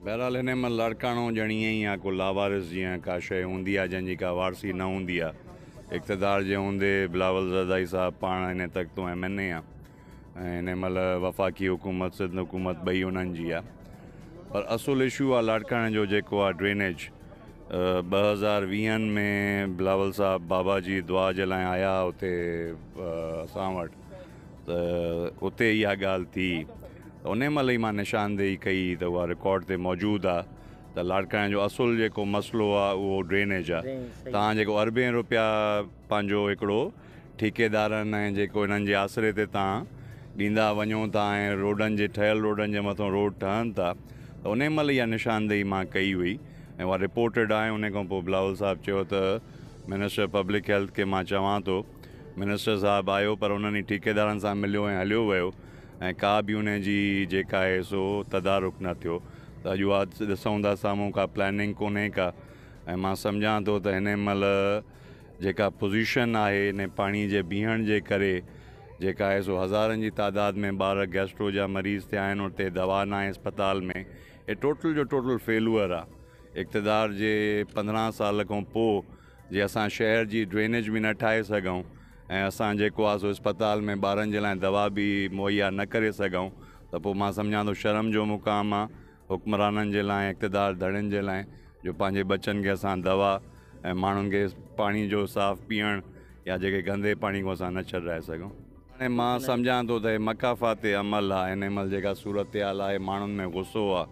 بهرحال هن مان لاڙڪاڻو ڄڻ ائين ئي آ ڪو لاوارث جيان ڪا شيء هوندي آ جنهن جي ڪا وارثي نه هوندي آ. اقتدار جي هوندي بلاول زرداري صاحب پاڻ هن تختون ايم اين اي آ ۽ هن مهل وفاقي حڪومت سنڌ حڪومت ٻئي انهن جي آ پر اصل اشو آ لاڙڪاڻي جو جيڪو آ ڊرينيج ٻه هزار ويهن ۾ بلاول صاحب بابا جي دعا جي لاء آيا هئا اتي اسان وٽ ته اتي اها ڳالهه ٿي ته انهي مهل ئي مان نشاندهي ڪئي ته اها رڪارڊ تي موجود آ ته لاڙڪاڻي جو اصل جيڪو مسئلو آ اهو ڊرينيج آ تان جيڪو اربين روپيا پنهنجو هڪڙو ٺيڪيدارن ۽ جيڪو انهن جي آسري تي تان ڏيندا وڃو ٿا ۽ روڊن جي ٺهيل روڊن جي مٿو روڊ ٺهن ٿا ته انهي مهل اها نشاندهي مان ڪئي هئي ۽ اها رپورٽيڊ آ ۽ انهي کان پوء بلاول صاحب چيو ته منسٽر پبلڪ هيلٿ کي مان چوان ٿو منسٽر صاحب آيو پر انهن ئي ٺيڪيدارن سان مليو ۽ هليو ويو ۽ ڪا به ان جي جيڪا آهي سو تدارڪ نه ٿيو ته اڄ اها ڏسون ٿا سامهون ڪا پلاننگ ڪونهي ڪا ۽ مان سمجهان ٿو ته هن مهل جيڪا پوزيشن آهي ان پاڻي جي بيهڻ جي ڪري جيڪا آهي سو هزارن جي تعداد ۾ ٻار گيسٽرو جا مريض ٿيا آهن اتي دوا ناهي اسپتال ۾ هي ٽوٽل جو ٽوٽل فيلوئر آهي اقتدار جي پندرهن سال کان پوء جي اسان شهر جي ڊرينيج به نه ٺاهي سگهون ۽ اسان جيڪو آهي سو اسپتال ۾ ٻارن جي لاء دوا به مهيا نه ڪري سگهون ته پوء مان سمجهان ٿو شرم جو مقام آهي حڪمرانن جي لاء اقتدار ڌڙين جي لاء جو پنهنجي ٻچن کي اسان دوا ۽ ماڻهن کي پاڻي جو صاف پيئڻ يا جيڪي گندي پاڻي کان اسان نه ڇڏرائي سگهون. هاڻي مان سمجهان ٿو ته هي مڪافاتي عمل آهي هن مهل جيڪا صورتحال آهي ماڻهن ۾ غصو آهي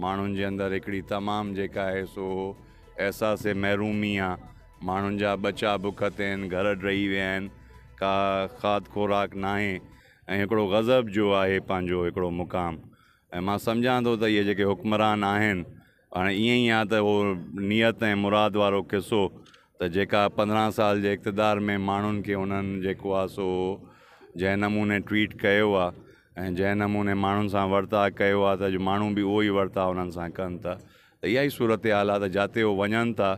ماڻهن جي اندر هڪڙي تمام جيڪا آهي سو احساس محرومي آ، ماڻهن جا ٻچا بک تي آهن، گهر ڊهي ويا آهن، ڪا کاڌ خوراڪ ناهي ۽ هڪڙو غضب جو آهي پنهنجو هڪڙو مقام ۽ مان سمجهان ٿو ته اهي جيڪي حڪمران آهن هاڻي ائين ئي آ ته اهو نيت ۽ مراد وارو قصو ته جيڪا پندرهن سال جي اقتدار ۾ ماڻهن کي انهن جيڪو آ سو جنهن نموني ٽويٽ ڪيو آ ۽ جنهن نموني ماڻهن سان ورتاء ڪيو آ ته اڄ ماڻهو به اهو ئي ورتاء انهن سان ڪن ته ته اها ئي صورتحال آهي ته جاتي هو وڃن ٿا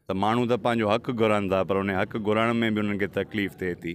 ته ماڻهو ته پنهنجو حق گهرن ٿا پر ان حق گهرڻ ۾ به انهن کي تڪليف ٿئي ٿي.